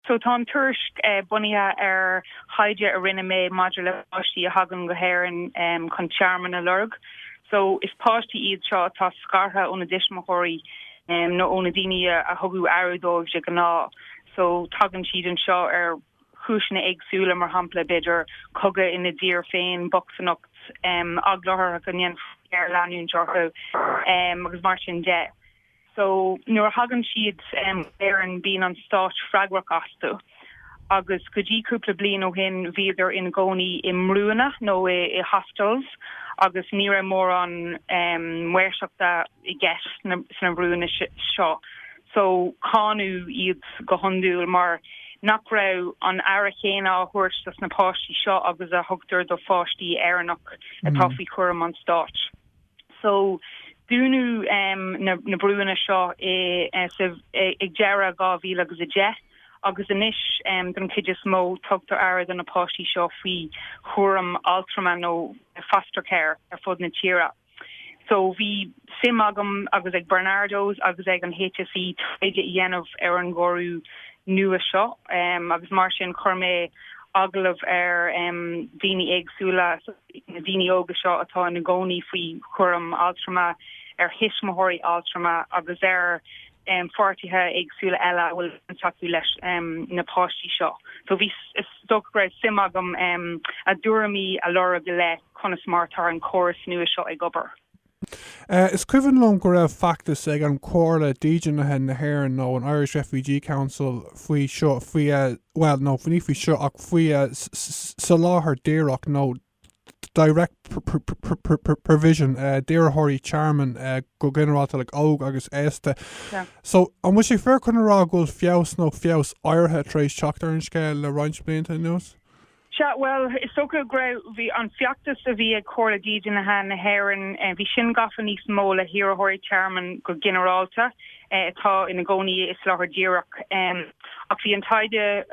So tá an tuairisc bunaithe ar thaighde a rinne mé maidir le páistí a thagann go hÉirinn chun tearmann a lorg. So is páistí iad seo atá scartha óna dtuismitheoirí nó ó na daoine a thugadh aire dóibh de ghnáth. So tagann siad anseo ar chúiseanna éagsúla, mar shampla b'fhéidir cogadh ina dtír féin, bochtaineacht, eagla orthu go ndéanfaí géarleanúint orthu agus mar sin de. so nuair a thagann siad go hÉirinn bíonn an stát freagrach astu agus go dtí cúpla bliain ó shin bhíodar ina gcónaí i mbrúanna nó i hostels agus ní raibh mórán maoirseachta i gceist sna brúanna seo so cáineadh iad go hiondúil mar nach raibh an aire chéanna á thabhairt dos na páistí seo agus a thugtar do pháistí Éireannach atá faoi chúram an stáit. so, dúnadh na brúanna seo ag deireadh 2010 agus anois don chuid is mó tugtar aire do na páistí seo faoi chúram altrama nó foster care ar fud na tíre. So, bhí suim agam agus ag Barnardos agus ag an HSE taighde a dhéanamh ar an gcóras nua seo agus mar sin chuir mé agallamh ar dhaoine éagsúla na daoine óga seo atá ina gcónaí faoi chúram altrama, ar thuismitheoirí altrama agus ar pháirtithe éagsúla eile a bhfuil baint acu leis na páistí seo. So bhí, is dócha go raibh suim agam a dtuairimí a lorg i leith conas mar atá an córas nua seo ag obair. Is cuimhin liom go raibh feachtas ag an Comhairle Dídeanaithe na hÉireann nó an Irish Refugee Council faoi seo, faoi, bhuel, no, ní faoi seo ach faoi soláthar díreach nó direct provision d'iarrthóirí tearmainn go ginearálta, like, óg agus aosta. So, an bhfuil sé fíor chun a rá go bhfuil feabhas nó feabhas áirithe tar éis teacht ar an scéal le roinnt blianta anuas? Sea, bhuel, is dócha go raibh an feachtas a bhí ag Comhairle Dídeanaithe na hÉireann, bhí sin gafa níos mó le hiarrthóirí tearmainn go ginearálta atá ina gcónaí i soláthar díreach. Ach bhí an taighde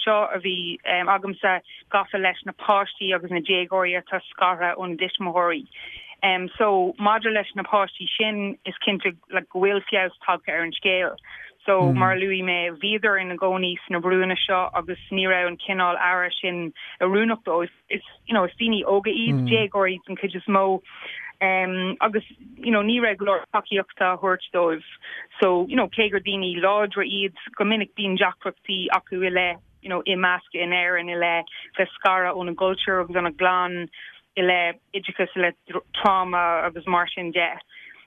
seo a bhí agamsa gafa leis na páistí agus na déagóirí atá scartha óna dtuismitheoirí. So, maidir leis na páistí sin, is cinnte like go bhfuil feabhas tagtha ar an scéal. So mar a luaigh mé bhíodar ina gcónaí sna brúanna seo agus ní raibh an cineál aire sin oiriúnach dóibh. You know is daoine óga iad, déagóirí den chuid is mó em, agus you know ní raibh go leor tacaíochta á thabhairt dóibh. So you know cé gur daoine láidre iad go minic bíonn deacrachtaí acu i leith you know imeascadh in Éirinn i leith bheith scartha óna gcultúr agus óna gclann i leith oideachas i leith tráma agus mar sin de.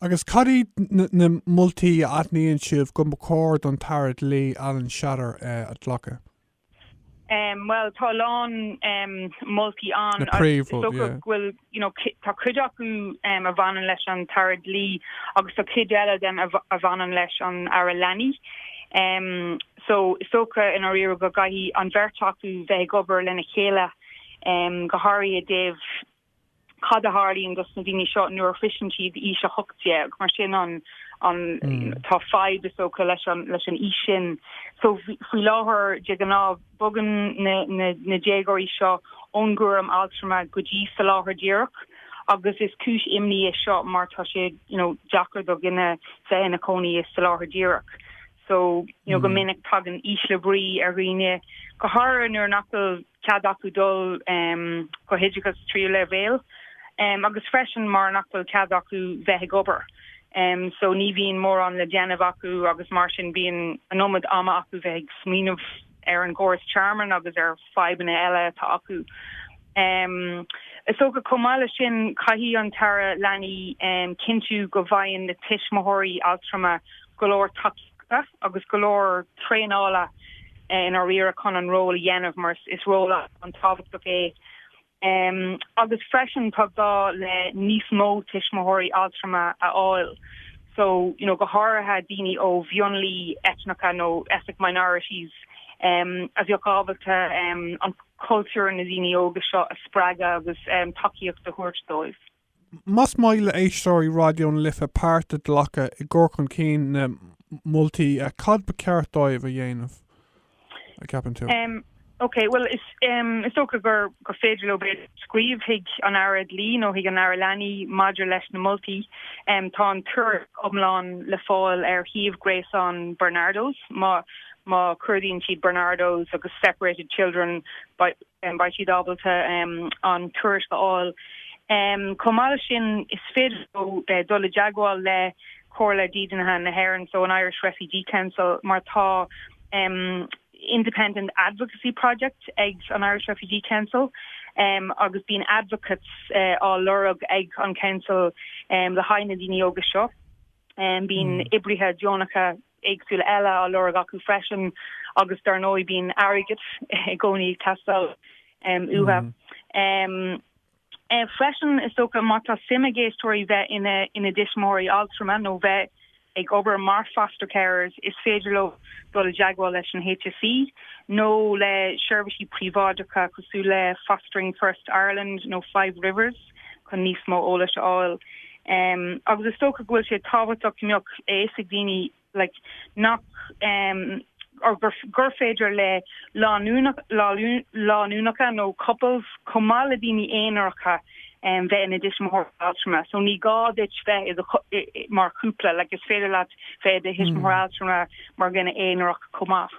Agus cad iad na moltaí a aithníonn sibh go mba chóir don tAire Dlí, Alan Shatter, a ghlacadh? Bhuel, tá a lán moltaí ann. Na príomhrud, yeah. Tá cuid acu a bhaineann leis an tAire Dlí agus tá cuid eile dóibh a bhaineann leis an Aire Leanaí. So, is dócha, i ndáiríre, go gcaithfidh an bheirt acu bheith ag obair lena chéile, go háirithe i dtaobh. cad a tharlaíonn dos na daoine seo nuair a shroiseann siad aois 18 mar sin an an tá fadhb is dócha leis an leis an aois sin so faoi láthair de gnáth bogann na na na déagóirí seo ón gcúram altrama go dtí soláthar díreach agus is cúis imní é seo mar tá sé you know deacair do dhuine bheith ina chónaí i soláthar díreach so you know go minic tagann ísle brí ar dhaoine go háirithe nuair nach bhfuil cead acu dul go oideachas tríú leibhéal agus freisin mar nach bhfuil cead acu bheith ag obair so ní bhíonn mórán le déanamh acu agus mar sin bíonn an iomad ama acu bheith ag smaoineamh ar an gcóras tearmainn agus ar fadhbanna eile atá acu. Is dócha chomh maith le sin caithfidh an tAire Leanaí cinntiú go bhfaigheann na tuismitheoirí altrama go leor tacaíochta agus go leor traenála i ndáiríre chun an ról a dhéanamh mar is ról an-tábhachtach é agus freisin tá gá le níos mó tuismitheoirí altrama a fháil so you know go háirithe daoine ó mhionlaigh eitneacha nó ethnic minorities a bheadh ábalta an cultúr na daoine óga seo a spreagadh agus tacaíocht a thabhairt dóibh. Más maith le héisteoirí Raidió na Life páirt a ghlacadh i gcur chun cinn na moltaí, cad ba cheart dóibh a dhéanamh, a cheapann tú? Ok, bhuel is dócha gur féidir leo b'fhéidir scríobh chuig an Aire Dlí nó chuig an Aire Leanaí maidir leis na moltaí. Tá an tuairisc iomlán le fáil ar shuíomh gréasáin Barnardos. Má má chuardaíonn siad Barnardos agus Separated Children, beidh beidh siad ábalta an tuairisc a fháil. Chomh maith leis sin, is féidir leo dul i dteagmháil le Comhairle Dídeanaithe na hÉireann, so an Irish Refugee Council, mar tá independent advocacy project ag an Irish Refugee Council agus bíonn advocates á lorg ag an Council le haghaidh na ndaoine óga seo. Bíonn oibrithe deonacha. éagsúla eile á lorg acu freisin agus dar ndóigh bíonn airgead i gcónaí ag teastáil uathu freisin. Is dócha má tá suim ag éisteoirí bheith ina dtuismitheoirí altrama nó bheith ag obair mar foster carers is féidir leo dul i dteagmháil leis an HSE nó le seirbhísí príobháideacha cosúil le Fostering First Ireland nó Five Rivers. chun níos mó eolais a fháil agus is dócha go bhfuil sé tábhachtach go mbeadh a fhios ag daoine like nach or gur féidir le lánúineacha nó couples chomh maith le daoine aonaracha bheith ina dtuismitheoir altrama so ní gá duit bheith mar chúpla like is féidir leat bheith i do thuismitheoir altrama mar dhuine aonarach chomh maith.